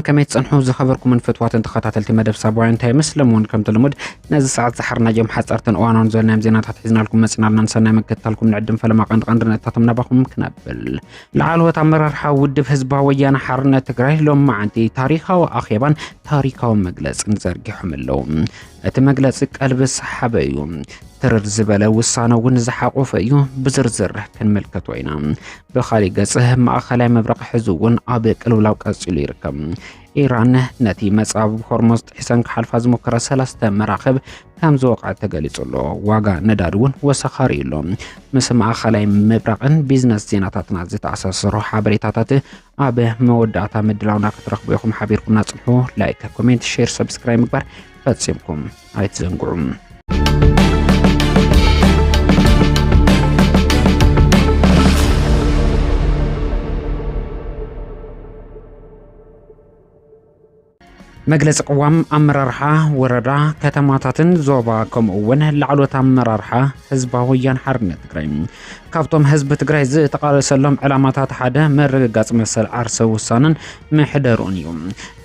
ከመይ ትጸንሑ ዝኸበርኩምን ፍትዋትን ተኸታተልቲ መደብ ሳባውያን እንታይ መስለም እውን ከምቲ ልሙድ ነዚ ሰዓት ዝሓርናዮም ሓጸርትን እዋናውን ዘለናዮም ዜናታት ሒዝናልኩም መጺናልና ንሰናይ መገትታልኩም ንዕድም ፈለማ ቀንዲ ቀንዲ ነጥታቶም ናባኹም ክነብል ላዕለዎት ኣመራርሓ ውድብ ህዝባዊ ወያነ ሓርነት ትግራይ ሎም መዓንቲ ታሪኻዊ ኣኼባን ታሪካዊ መግለፅን ዘርጊሖም ኣለዉ። እቲ መግለፂ ቀልቢ ዝሰሓበ እዩ። ትርር ዝበለ ውሳነ እውን ዝሓቆፈ እዩ። ብዝርዝር ክንምልከቶ ኢና። ብካሊእ ገጽ ማእኸላይ ምብራቕ ሕዚ እውን ኣብ ቅልውላው ቀፂሉ ይርከብ። ኢራን ነቲ መጻብ ሆርሞዝ ጥሒሰን ክሓልፋ ዝሞከረ ሰለስተ መራኽብ ከም ዝወቕዐ ተገሊጹ ኣሎ። ዋጋ ነዳዲ እውን ወሰኻሪ እዩ ኣሎ። ምስ ማእኸላይ ምብራቕን ቢዝነስ ዜናታትና ዝተኣሳሰሩ ሓበሬታታት ኣብ መወዳእታ ምድላውና ክትረኽቡ ኢኹም። ሓቢርኩምና ጽንሑ። ላይክ፣ ኮሜንት፣ ሼር፣ ሰብስክራይብ ምግባር ፈጺምኩም ኣይትዘንግዑም። መግለፂ ቅዋም ኣመራርሓ ወረዳ ከተማታትን ዞባ ከምኡ እውን ላዕሎት ኣመራርሓ ህዝባዊ ወያን ሓርነት ትግራይ ካብቶም ህዝቢ ትግራይ ዝተቃለሰሎም ዕላማታት ሓደ ምርግጋፅ መሰል ዓርሰ ውሳነን ምሕደርኡን እዩ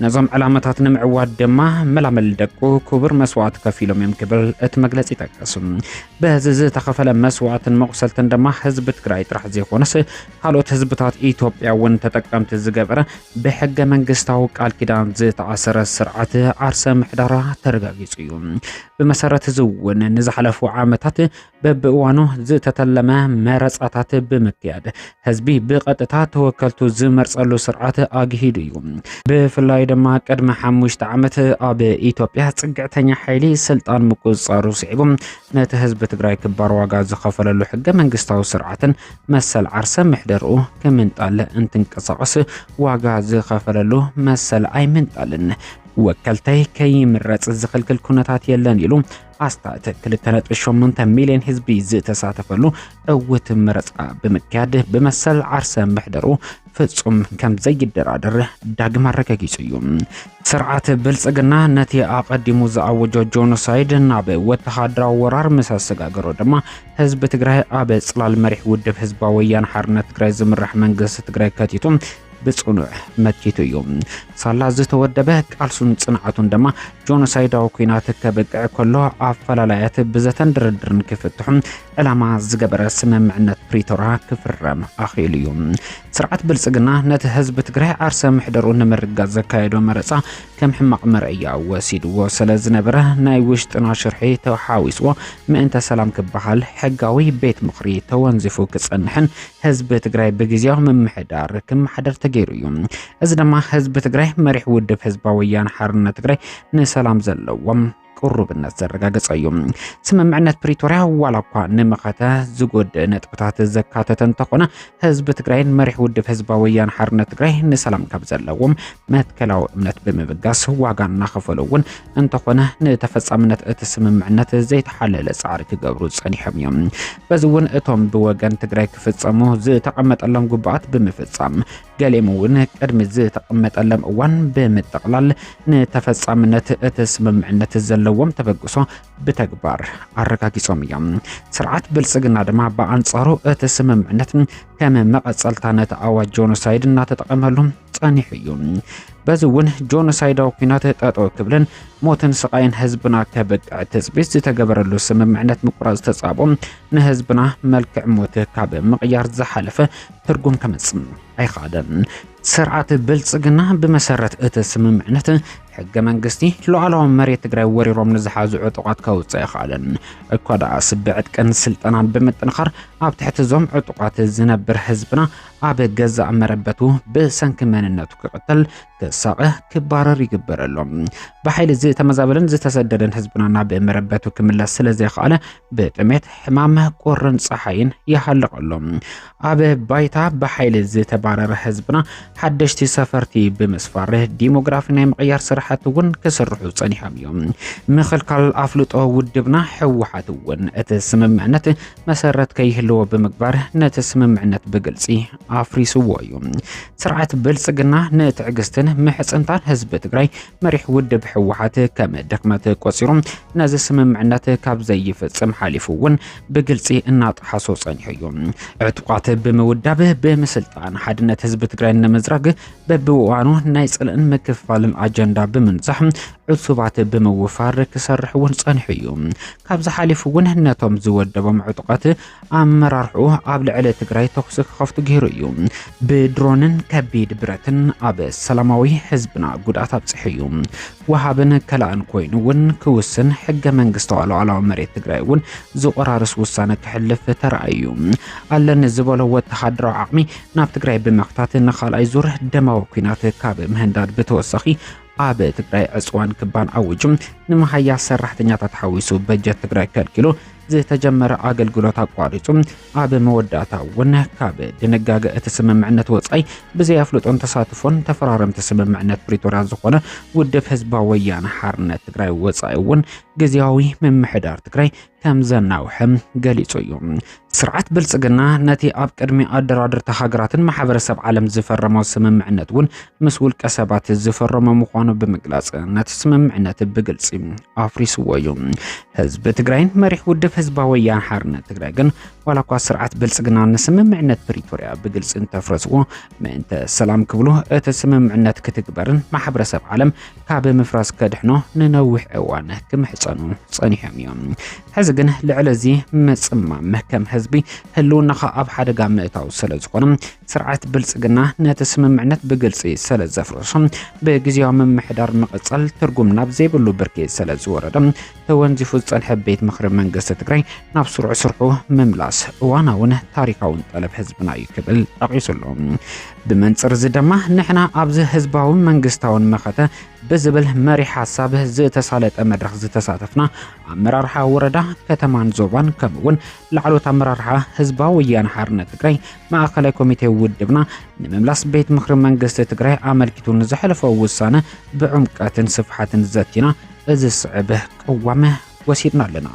ነዞም ዕላማታት ንምዕዋድ ድማ መላመል ደቁ ክቡር መስዋዕት ከፊሎም እዮም ክብል እቲ መግለፂ ይጠቀሱ በዚ ዝተኸፈለ መስዋዕትን መቁሰልትን ድማ ህዝቢ ትግራይ ጥራሕ ዘይኮነስ ካልኦት ህዝብታት ኢትዮጵያ እውን ተጠቀምቲ ዝገበረ ብሕገ መንግስታዊ ቃል ኪዳን ዝተኣሰረ ስርዓት ዓርሰ ምሕዳራ ተረጋጊጹ እዩ። ብመሰረት እዚ እውን ንዝሓለፉ ዓመታት በብእዋኑ ዝተተለመ መረፃታት ብምክያድ ህዝቢ ብቐጥታ ተወከልቱ ዝመርፀሉ ስርዓት ኣግሂዱ እዩ። ብፍላይ ድማ ቅድሚ ሓሙሽተ ዓመት ኣብ ኢትዮጵያ ፅግዕተኛ ሓይሊ ስልጣን ምቁፅፃሩ ስዒቡ ነቲ ህዝቢ ትግራይ ክባር ዋጋ ዝኸፈለሉ ሕገ መንግስታዊ ስርዓትን መሰል ዓርሰ ምሕደርኡ ክምንጣል እንትንቀሳቐስ ዋጋ ዝኸፈለሉ መሰል ኣይምንጣልን ወከልተይ ከይምረፅ ዝኽልክል ኩነታት የለን ኢሉ ኣስታት 2.8 ሚሊዮን ህዝቢ ዝተሳተፈሉ እውት መረፃ ብምክያድ ብመሰል ዓርሰ ምሕደሩ ፍጹም ከም ዘይደራደር ዳግም ኣረጋጊጹ እዩ። ስርዓት ብልጽግና ነቲ ኣቐዲሙ ዝኣወጆ ጆኖሳይድ ናብ ወተሃደራዊ ወራር ምስ ኣሰጋገሮ ድማ ህዝቢ ትግራይ ኣብ ጽላል መሪሕ ውድብ ህዝባዊ ወያነ ሓርነት ትግራይ ዝምራሕ መንግስቲ ትግራይ ከቲቱ ብጽኑዕ መኪቱ እዩ። ሳላ ዝተወደበ ቃልሱን ጽንዓቱን ድማ ጆኖሳይዳዊ ኩናት ከብቅዕ ከሎ ኣፈላላያት ብዘተን ድርድርን ክፍትሑ ዕላማ ዝገበረ ስምምዕነት ፕሪቶራ ክፍረም ኣኽኢሉ እዩ። ስርዓት ብልጽግና ነቲ ህዝቢ ትግራይ ዓርሰ ምሕደሩ ንምርጋጽ ዘካየዶ መረጻ ከም ሕማቕ መርኣያ ወሲድዎ ስለ ዝነበረ ናይ ውሽጥና ሽርሒ ተሓዊስዎ ምእንተ ሰላም ክበሃል ሕጋዊ ቤት ምኽሪ ተወንዚፉ ክጸንሕን ህዝቢ ትግራይ ብግዜያዊ ምምሕዳር ክመሓደር ተገይሩ እዩ። እዚ ድማ ህዝቢ ትግራይ መሪሕ ውድብ ህዝባዊ ወያነ ሓርነት ትግራይ ንሰላም ዘለዎም ቅሩብነት ዘረጋገጸ እዩ። ስምምዕነት ፕሪቶርያ ዋላ እኳ ንመኸተ ዝጎድእ ነጥብታት ዘካተተ እንተኾነ ህዝቢ ትግራይን መሪሕ ውድብ ህዝባዊ ወያነ ሓርነት ትግራይ ንሰላም ካብ ዘለዎም መትከላዊ እምነት ብምብጋስ ዋጋ እናኸፈሉ እውን እንተኾነ ንተፈጻምነት እቲ ስምምዕነት ዘይተሓለለ ፃዕሪ ክገብሩ ጸኒሖም እዮም። በዚ እውን እቶም ብወገን ትግራይ ክፍጸሙ ዝተቐመጠሎም ጉባኣት ብምፍጻም ገሌም እውን ቅድሚ ዝተቐመጠሎም እዋን ብምጥቕላል ንተፈጻምነት እቲ ስምምዕነት ዘለዎም ተበግሶ ብተግባር ኣረጋጊጾም እዮም። ስርዓት ብልጽግና ድማ ብኣንጻሩ እቲ ስምምዕነት ከም መቐጸልታ ነቲ ኣዋጅ ጆኖሳይድ እናተጠቐመሉ ጸኒሑ እዩ። በዚ እውን ጆኖሳይዳዊ ኩናት ጠጠው ክብልን ሞትን ስቃይን ህዝብና ከብቅዕ ትፅቢት ዝተገበረሉ ስምምዕነት ምቁራፅ ተፃቦ ንህዝብና መልክዕ ሞት ካብ ምቕያር ዝሓለፈ ትርጉም ከምጽእ ኣይኸኣለን። ስርዓት ብልጽግና ብመሰረት እቲ ስምምዕነት ሕገ መንግስቲ ሉዓላዊ መሬት ትግራይ ወሪሮም ንዝሓዙ ዕጡቓት ከውፅእ ኣይኸኣለን። እኳ ደኣስ ብዕጥቅን ስልጠናን ብምጥንኻር ኣብ ትሕቲ እዞም ዕጡቓት ዝነብር ህዝብና ኣብ ገዛእ መረበቱ ብሰንኪ መንነቱ ክቕተል፣ ክሳቐ ክባረር ይግበረሎም። ብሓይሊ ዝተመዛበለን ዝተሰደደን ህዝብና ናብ መረበቱ ክምለስ ስለ ዘይኸኣለ ብጥሜት ሕማም፣ ቁርን ፀሓይን ይሃልቐሎም። ኣብ ባይታ ብሓይሊ ዝተባረረ ህዝብና ሓደሽቲ ሰፈርቲ ብምስፋር ዲሞግራፊ ናይ ምቕያር ስራሕቲ እውን ክስርሑ ፀኒሖም እዮም። ምኽልካል ኣፍልጦ ውድብና ህወሓት እውን እቲ ስምምዕነት መሰረት ከይህልዎ ብምግባር ነቲ ስምምዕነት ብግልፂ ኣፍሪስዎ እዩ። ስርዓት ብልፅግና ንትዕግስትን ምሕፅንታን ህዝቢ ትግራይ መሪሕ ውድብ ህወሓት ከም ድክመት ቆፂሩ ነዚ ስምምዕነት ካብ ዘይፍፅም ሓሊፉ እውን ብግልፂ እናጠሓሶ ፀኒሑ እዩ። ዕጡቃት ብምውዳብ ብምስልጣን ሓድነት ህዝቢ ትግራይ ንምዝራግ በብእዋኑ ናይ ፅልእን ምክፍፋልን ኣጀንዳ ብምንዛሕ ዕሱባት ብምውፋር ክሰርሕ እውን ፀኒሑ እዩ። ካብዚ ሓሊፉ እውን ነቶም ዝወደቦም ዕጡቓት ኣመራርሕኡ ኣብ ልዕሊ ትግራይ ተኹሲ ክኸፍቱ ገይሩ እዩ። ብድሮንን ከቢድ ብረትን ኣብ ሰላማዊ ህዝብና ጉድኣት ኣብፂሑ እዩ። ወሃብን ከላእን ኮይኑ እውን ክውስን ሕገ መንግስታዊ ሉዓላዊ መሬት ትግራይ እውን ዝቆራርስ ውሳነ ክሕልፍ ተራእዩ። ኣለኒ ዝበሎ ወተሃደራዊ ዓቕሚ ናብ ትግራይ ብምኽታት ንካልኣይ ዙር ደማዊ ኩናት ካብ ምህንዳድ ብተወሳኺ ኣብ ትግራይ ዕፅዋን ክባን ኣዊጁ ንመሃያ ሰራሕተኛታት ሓዊሱ በጀት ትግራይ ከልኪሉ ዝተጀመረ ኣገልግሎት ኣቋሪፁ ኣብ መወዳእታ እውን ካብ ድንጋገ እቲ ስምምዕነት ወፃኢ ብዘይ ኣፍልጦን ተሳትፎን ተፈራረምቲ ስምምዕነት ፕሪቶርያ ዝኾነ ውድብ ህዝባዊ ወያነ ሓርነት ትግራይ ወፃኢ እውን ግዜያዊ ምምሕዳር ትግራይ ከም ዘናውሐ ገሊጹ እዩ። ስርዓት ብልጽግና ነቲ ኣብ ቅድሚ ኣደራድርቲ ሃገራትን ማሕበረሰብ ዓለም ዝፈረሞ ስምምዕነት እውን ምስ ውልቀ ሰባት ዝፈረሞ ምዃኑ ብምግላጽ ነቲ ስምምዕነት ብግልጺ ኣፍሪስዎ እዩ። ህዝቢ ትግራይን መሪሕ ውድብ ህዝባዊ ወያነ ሓርነት ትግራይ ግን ዋላ እኳ ስርዓት ብልጽግና ንስምምዕነት ፕሪቶርያ ብግልጺ እንተፍረስዎ ምእንተ ሰላም ክብሉ እቲ ስምምዕነት ክትግበርን ማሕበረሰብ ዓለም ካብ ምፍራስ ከድሕኖ ንነዊሕ እዋን ክምሕፀኑ ፀኒሖም እዮም። ሕዚ ግን ልዕሊ እዚ ምፅማም ከም ህዝቢ ህልውናኻ ኣብ ሓደጋ ምእታው ስለ ዝኾነ ስርዓት ብልፅግና ነቲ ስምምዕነት ብግልፂ ስለ ዘፍርሶ ብግዜያዊ ምምሕዳር ምቕፀል ትርጉም ናብ ዘይብሉ ብርኪ ስለ ዝወረደ ተወንዚፉ ዝጸንሐ ቤት ምኽሪ መንግስቲ ትግራይ ናብ ስሩዕ ስርሑ ምምላስ እዋናውን ታሪካውን ጠለብ ህዝብና እዩ ክብል ጠቒሱ ኣሎ። ብመንጽር እዚ ድማ ንሕና ኣብዚ ህዝባውን መንግስታውን መኸተ ብዝብል መሪ ሓሳብ ዝተሳለጠ መድረኽ ዝተሳተፍና ኣመራርሓ ወረዳ ከተማን ዞባን ከምኡ እውን ላዕሎት ኣመራርሓ ህዝባዊ ወያነ ሓርነት ትግራይ ማእኸላይ ኮሚቴ ውድብና ንምምላስ ቤት ምክሪ መንግስቲ ትግራይ ኣመልኪቱ ንዘሕለፈ ውሳነ ብዕምቀትን ስፍሓትን ዘቲና እዚ ዝስዕብ ቅዋም ወሲድና ኣለና።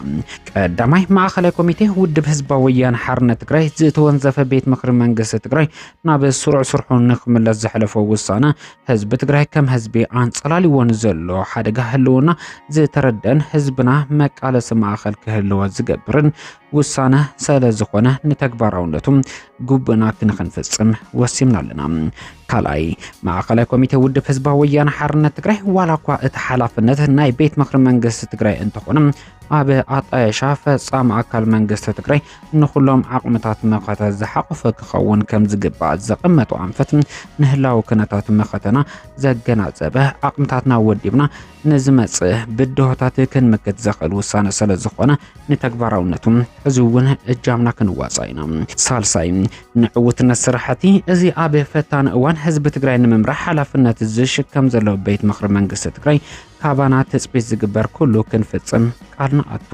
ቀዳማይ ማእኸላይ ኮሚቴ ውድብ ህዝባዊ ወያነ ሓርነት ትግራይ ዝተወንዘፈ ቤት ምክሪ መንግስቲ ትግራይ ናብ ስሩዕ ስርሑ ንክምለስ ዘሕለፎ ውሳነ ህዝቢ ትግራይ ከም ህዝቢ ኣንፀላልዎን ዘሎ ሓደጋ ህልውና ዝተረደን ህዝብና መቃለሲ ማእኸል ክህልዎ ዝገብርን ውሳነ ስለ ዝኾነ ንተግባራውነቱ ጉብእና ክንክንፍጽም ወሲምና ኣለና። ካልኣይ ማእኸላይ ኮሚቴ ውድብ ህዝባዊ ወያነ ሓርነት ትግራይ ዋላ እኳ እቲ ሓላፍነት ናይ ቤት ምኽሪ መንግስቲ ትግራይ እንተኾነ ኣብ ኣጣየሻ ፈጻሚ ኣካል መንግስቲ ትግራይ ንኹሎም ዓቕምታት መኸተ ዝሓቑፈ ክኸውን ከም ዝግባእ ዘቐመጡ ኣንፈት ንህላዊ ክነታት መኸተና ዘገናዘበ ዓቕምታትና ወዲብና ንዝመጽእ ብድሆታት ክንምክት ዘኽእል ውሳነ ስለ ዝኾነ ንተግባራውነቱ ሕዚ እውን እጃምና ክንዋጻእ ኢና። ሳልሳይ ንዕውትነት ስራሕቲ እዚ ኣብ ፈታኒ እዋን ህዝቢ ትግራይ ንምምራሕ ሓላፍነት ዝሽከም ዘሎ ቤት ምኽሪ መንግስቲ ትግራይ ካባና ትፅቢት ዝግበር ኩሉ ክንፍፅም ቃል ንኣቱ።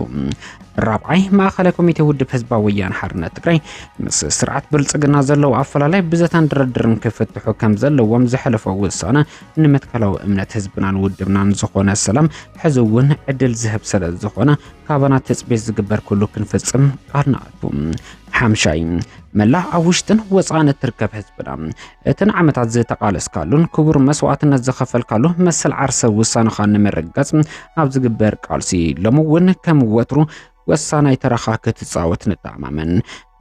ራብዓይ ማእኸላይ ኮሚቴ ውድብ ህዝባዊ ወያነ ሓርነት ትግራይ ምስ ስርዓት ብልፅግና ዘለዉ ኣፈላላይ ብዘታን ድርድርን ክፍትሑ ከም ዘለዎም ዘሕለፎ ውሳነ ንመትከላዊ እምነት ህዝብናን ውድብናን ዝኾነ ሰላም ሕዚ እውን ዕድል ዝህብ ስለ ዝኾነ ካባና ትፅቢት ዝግበር ኩሉ ክንፍፅም ቃል ንኣቱ። ሓምሻይ መላእ ኣብ ውሽጥን ወፃእን እትርከብ ህዝብና እትን ዓመታት ዝተቃለስካሉን ክቡር መስዋዕትነት ዝኸፈልካሉ መሰል ዓርሰ ውሳነኻ ንምርጋፅ ኣብ ዝግበር ቃልሲ ሎሚ እውን ከም ወትሩ ወሳናይ ተራኻ ክትጻወት ንተኣማመን።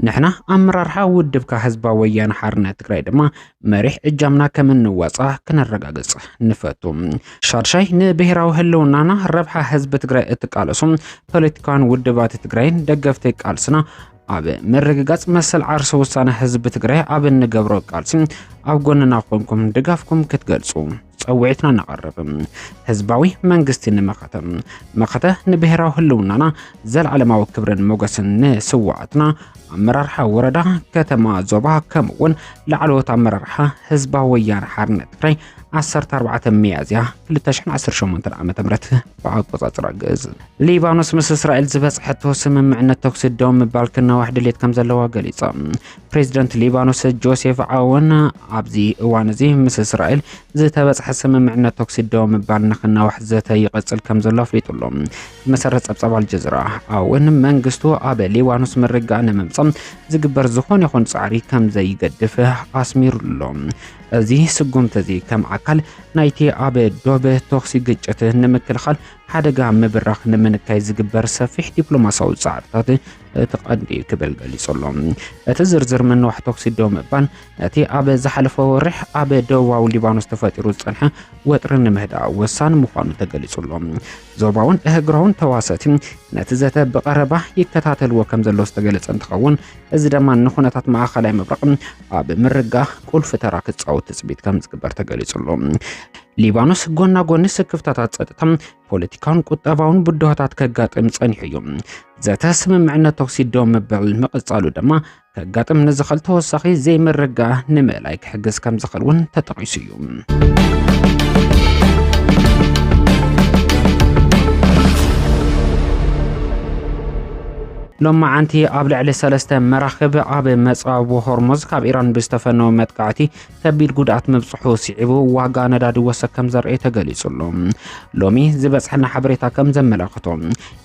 ንሕና ኣመራርሓ ውድብካ ህዝባዊ ወያነ ሓርነት ትግራይ ድማ መሪሕ እጃምና ከም እንዋጻ ክነረጋግጽ ንፈቱ። ሻድሻይ ንብሔራዊ ህልውናና ረብሓ ህዝቢ ትግራይ እትቃለሱ ፖለቲካውያን ውድባት ትግራይን ደገፍቲ ቃልስና ኣብ ምርግጋጽ መሰል ዓርሰ ውሳነ ህዝቢ ትግራይ ኣብ እንገብሮ ቃልሲ ኣብ ጎንና ኮንኩም ድጋፍኩም ክትገልጹ ጸውዒትና ነቐርብ ህዝባዊ መንግስቲ ንመኸተ መኸተ ንብሔራዊ ህልውናና ዘለዓለማዊ ክብርን ሞገስን ንስዋኣትና ኣመራርሓ ወረዳ ከተማ ዞባ ከምኡ እውን ላዕለዎት ኣመራርሓ ህዝባዊ ወያነ ሓርነት ትግራይ 14 ሚያዝያ 2018 ዓ ም ብኣቆፃፅራ ግእዝ ሊባኖስ ምስ እስራኤል ዝበፅሐቶ ስምምዕነት ተኩሲ ደው ምባል ክናዋሕ ድሌት ከም ዘለዋ ገሊፆም ፕሬዚደንት ሊባኖስ ጆሴፍ ዓውን ኣብዚ እዋን እዚ ምስ እስራኤል ዝተበፅሐ ስምምዕነት ተኩሲ ደው ምባል ንክናዋሕ ዘተ ይቐፅል ከም ዘሎ ኣፍሊጡ ኣሎ። ብመሰረት ፀብፃብ ኣልጀዚራ ዓውን መንግስቱ ኣብ ሊባኖስ ምርግጋእ ንምምፃእ ዝግበር ዝኾነ ይኹን ፃዕሪ ከም ዘይገድፍ ኣስሚሩ ኣሎ። እዚ ስጉምቲ እዚ ከም ኣካል ናይቲ ኣብ ዶብ ተኩሲ ግጭት ንምክልኻል ሓደጋ ምብራኽ ንምንካይ ዝግበር ሰፊሕ ዲፕሎማሲያዊ ፃዕርታት እቲ ቀንዲ ክብል ገሊጹሎ። እቲ ዝርዝር ምንዋሕ ተኩሲ ደው ምባል ነቲ ኣብ ዝሓለፈ ወርሕ ኣብ ደቡባዊ ሊባኖስ ተፈጢሩ ዝጸንሐ ወጥሪ ንምህዳእ ወሳኒ ምዃኑ ተገሊጹሎ። ዞባውን እህግራውን ተዋሰቲ ነቲ ዘተ ብቐረባ ይከታተልዎ ከም ዘሎ ዝተገለጸ እንትኸውን እዚ ድማ ንኩነታት ማእኸላይ ምብራቕ ኣብ ምርጋ ቁልፊ ተራ ክጻወት ትጽቢት ከም ዝግበር ተገሊጹሎ። ሊባኖስ ጎና ጎኒ ስክፍታታት ጸጥታ ፖለቲካውን ቁጠባውን ብድሆታት ከጋጥም ጸኒሑ እዩ። ዘተ ስምምዕነት ተኹሲ ደው ምባል ምቕጻሉ ድማ ከጋጥም ንዝኽእል ተወሳኺ ዘይምርግጋእ ንምእላይ ክሕግዝ ከም ዝኽእል እውን ተጠቒሱ እዩ። ሎማዓንቲ ኣብ ልዕሊ ሰለስተ መራኽብ ኣብ መጻብቦ ሆርሙዝ ካብ ኢራን ብዝተፈነወ መጥቃዕቲ ከቢድ ጉድኣት ምብፅሑ ስዒቡ ዋጋ ነዳዲ ወሰክ ከም ዘርኤ ተገሊጹ ኣሎ። ሎሚ ዝበፅሐና ሓበሬታ ከም ዘመላኽቶ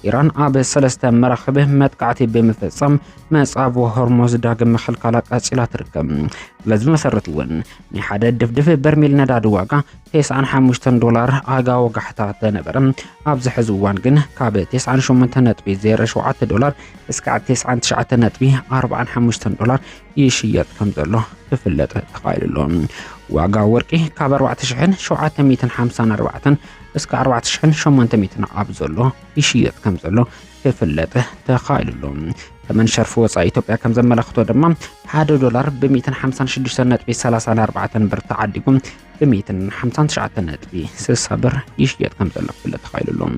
ኢራን ኣብ ሰለስተ መራኽብ መጥቃዕቲ ብምፍጻም መጻብቦ ሆርሞዝ ዳግም ምኽልካላ ቀጺላ ትርከብ። በዚ መሰረት እውን ናይ ሓደ ድፍድፍ በርሚል ነዳዲ ዋጋ 95 ዶላር ኣጋ ወጋሕታ ተነበረ ኣብዚ ሕዚ እዋን ግን ካብ 98.07 ዶላር እስካዕ 99.45 ዶላር ይሽየጥ ከም ዘሎ ክፍለጥ ተኻኢሉ ኣሎ። ዋጋ ወርቂ ካብ 4754 እስከ 4800 ኣብ ዘሎ ይሽየጥ ከም ዘሎ ክፍለጥ ተኻኢሉ ኣሎ። ተመን ሸርፊ ወፃኢ ኢትዮጵያ ከም ዘመላኽቶ ድማ ሓደ ዶላር ብ156.34 ብር ተዓዲጉ ብሚእትን ሓምሳን ትሽዓተን ነጥቢ ስሳ ብር ይሽየጥ ከም ዘሎ ክፍለጥ ተኻኢሉ ኣሎ።